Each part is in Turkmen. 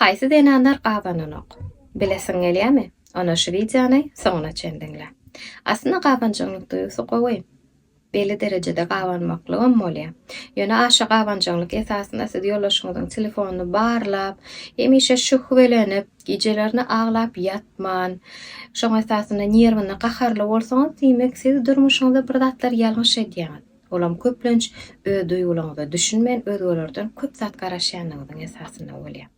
Haýsy zenanlar gabananok? Bilesiň gelýämi? Onda şu wideony soňuna çen diňle. Aslynda gabanjaňlyk duýgusy gowy. Belli derejede gabanmaklygam bolýar. Ýöne aşa gabanjaňlyk esasynda siz ýoldaşyňyzyň telefonyny barlap, hemişe şühwelenip, gijelerine aglap ýatman, şoň esasynda nerwine gaharly bolsaňyz diýmek siz durmuşyňyzda bir zatlar ýalňyş edýäňiz. Olam köplenç öz duýgularyňyza düşünmän özgelerden köp zat garaşýanyňyzyň esasynda bolýar.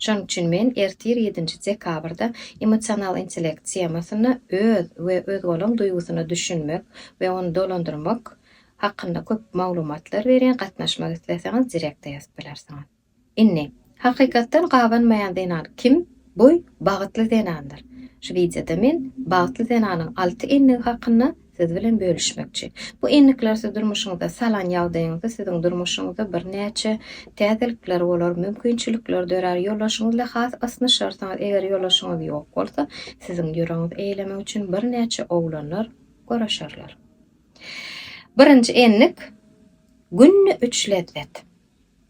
Şonuň üçin men ertir ýedinji dekabrda Emosional intellekt temasynda öz we özgalaň duýgusyna düşünmek we ony dolandyrmak hakynda köp maglumatlar berýän gatnaşmak isleseňiz direkta ýazyp bilersiňiz. Indi, hakykatdan gabanmaýan zenan kim? Bu bagtly zenandyr. Şu wideoda men bagtly zenanyň alty endigi hakynda siz bilen bölüşmekçi. Bu endikler siz durmuşyňyza salan ýagdaýyňyzda siziň durmuşyňyzda birnäçe täzelikler bolar, mümkinçilikler dörär, ýoldaşyňyz ile has ysnyşarsyňyz, eger ýoldaşyňyz ýok bolsa, siziň ýüregiňizi eýlemek üçin birnäçe oglanlar göreşerler. Birinji endik, günde üç lezzet.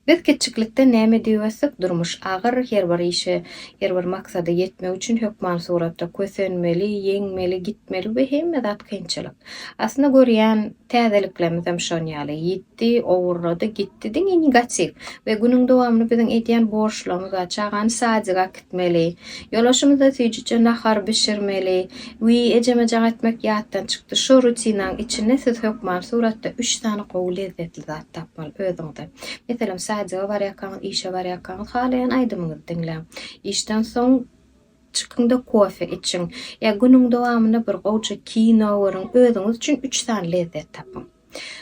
Biz kiçjiklikden näme diýip ösdük, durmuş agyr, her bir işe, her bir maksada ýetmek üçin hökman suratda kösenmeli, ýeňmeli, gitmeli we hemme zat kynçylyk. Aslynda görýän täzeliklerimizem şon ýaly, ýitdi, owurlady, gitdi, diňe negatiw we günüň dowamyny biziň edýän borçlarymyz bar, çagany sadyga, etmeli. Ýolbaşçymyza süýjüje nahar bişirmeli. Wiý, ejemejak etmek ýatdan çykdy. Şo rutinaň içinde siz hökman suratda üç sany gowy lezzetli zat tapmaly özüňize. Meselem, sadyga barýarkaňyz, işe barýarkaňyz halaýan aýdymyňyzy diňläň. Işden soň çykyň-da kofe içiň. Ýa günüň dowamynda bir gowja kino görüň. Özüňiz üçin üç sany lezzet tapyň.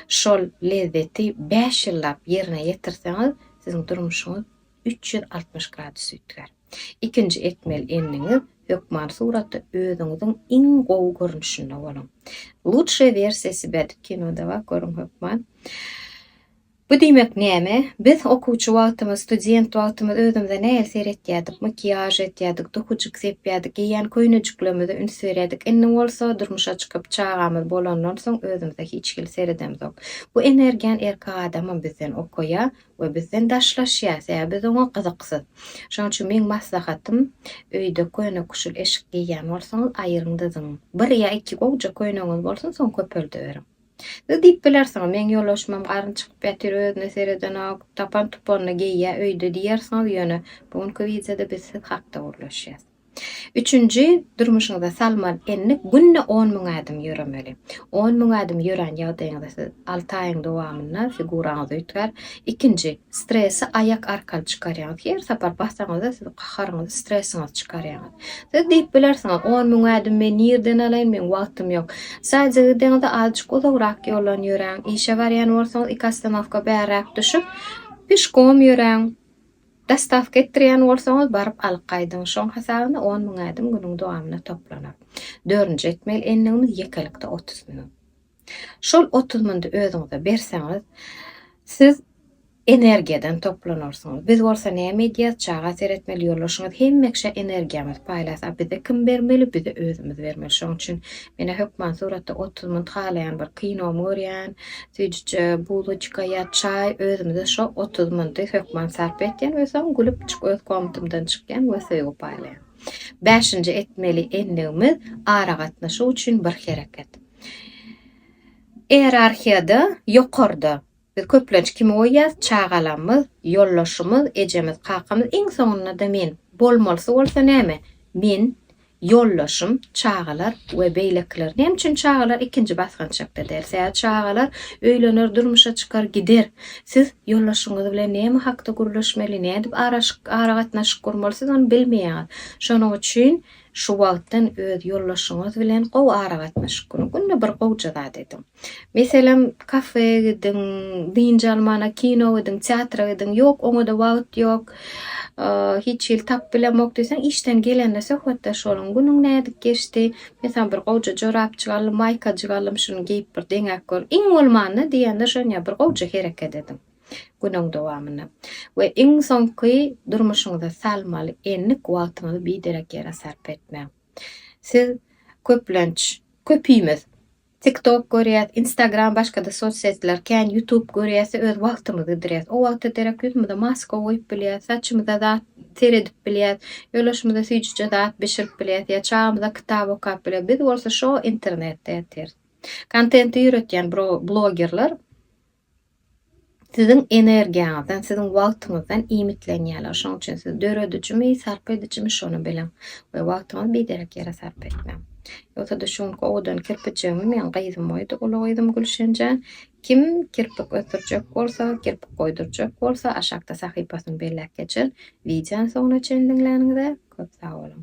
Şol lezzeti bäş ýyllap ýerine ýetirseňiz, siziň durmuşyňyz üç ýüz altmyş gradus üýtgär. Ikinji etmeli endigiňiz, hökman suratda özüňiziň iň gowy görnüşinde boluň. Lutşaya wersiýa sibä dip kinoda bak görüň hökman. Bu diýmek näme? Biz okuwçy wagtymyz, student wagtymyz özümize nähili seretýärdik? Makiýaž etýärdik, duhujyk sepýärdik, geýýän köýnejiklerimize üns berýärdik. Indi bolsa durmuşa çykyp, çagamyz bolandan soň özümize hiç hili seredemzok. Bu energiýany erkek adamam bizden okaýar. we bizden daşlaşýar, sebäbi biz oňa gyzyksyz. Şonuň üçin meň maslahatym, öýde köne kuşul eşik geýýän bolsaňyz, aýyryň da zyň. Bir ýa iki gowja köneňiz bolsun, soň köpeldiberiň. Siz diýip bilersiňiz, meň ýoldaşymam garny çykyp ýatyr, özüne seredenok, tapan-tupanyny geýýär öýde diýersiňiz, ýöne bu günki wideoda biz siz hakda gürleşýäs. Üçünji, durmuşyňyza salmaly endik günde on müň ädim ýöremeli. On müň ädim ýörän ýagdaýyňyzda siz alty aýyň dowamynda figuraňyz üýtgär. Ikinji, stresi aýak arkaly çykarýaňyz. Her sapar basaňyzda siz gaharyňyzy, stresiňizi çykarýaňyz. Siz diýip bilersiňiz, on müň ädimi men nirden alaýyn, meň wagtym ýok. Sadýje gideňizde azjyk uzagrak ýoldan ýöräň. Işe barýan bolsaňyz iki ostanowka bärräk düşüp, pişkom ýöräň. Dostawka etdirýän bolsaňyz baryp alyp gaýdyň şoň hasabyna on müň ädim günüň dowamynda toplanar. Dördünji etmeli endigimiz ýekelikde otuz müň. Şol otuz müňdi özüňize berseňiz siz energiýadan toplanarsyňyz. Biz bolsa näme edýäs çaga seretmeli ýoldaşyňyz hemmeşe energiýamyz paýlas a bize kim bermeli bize özümiz bermeli şoň üçin Menä hökman suratda otuz munt halaýan bir kinomy görýän, süýjüje buloçka ýa çaý, özümize şo otuz munty hökman sarp etýän we soň gülüp çyk öz komatymdan çykýan we söýgi paýlaýan. Bäşinji etmeli endigimiz aragatnaşyk üçin bir hereket. Ierarhiýada ýokarda. Biz köplenç kimi goýýarys, çagalamyz, ýoldaşymyz, ejemiz, kakamyz, iň soňunda-da men. Bolmalysy bolsa näme? Men, ýoldaşym, çagalar we beýlekiler. Näme üçin çagalar ikinji basgançakda däl? Sebäbi çagalar öýlener, durmuşa çykar, gider. Siz ýoldaşyňyz bilen näme hakda gürleşmeli, nädip aragatnaşyk gurmaly, siz ony bilmeýäňiz. Şonuň üçin Şu wagtdan öz ýoldaşyňyz bilen gowy aragatnaşyk guruň. Günde bir gowja zat ediň. Meselem, kafe gidiň, dynç almana, kino gidiň, teatra gidiň. Ýok, oňa-da wagt ýok, hiç hili tapyp bilemok diýseň, işden gelende söhbetdeş boluň. Günüň nädip geçdi? Men saňa bir gowja jorapjyk aldym, maýkajyk aldym, şuny geýip bir deňäp gör. Iň bolmanda diýende şonýa bir gowja hereket ediň. günüň dowamynda we iň soňky durmuşyňyza salmaly endik wagtyňyzy biderek ýere sarp etmäň. Siz köplenç, köpimiz TikTok görýäs, Instagram başga-da sosýetler, kän YouTube görýäs-de öz wagtymyzy ýitirýäs. O wagta derek ýüzümize maska goýup bilýäs, saçymyza zat seredip bilýäs, ýolaşymyza süýjüje zat bişirip bilýäs ýa çagymyza kitap okap bilýäs. Biz bolsa şo internetde ýatyrs. Kontenti ýöretýän blogerler Siziň energiýaňyzdan, siziň wagtyňyzdan iýmitlenýärler. Şonuň üçin siz döredijimi, sarp edijimi şony biliň we wagtyňyzy biderek ýere sarp etmäň. Ýogsa-da şu günki owadan kirpijigimi meň gyzym oýdy, uly gyzym Gülşenjan. Kim kirpik ösdürjek bolsa, kirpik goýdurjak bolsa, aşakda sahypasyny belläp geçer. Wideony soňuna çendiňläniňize köp sag boluň.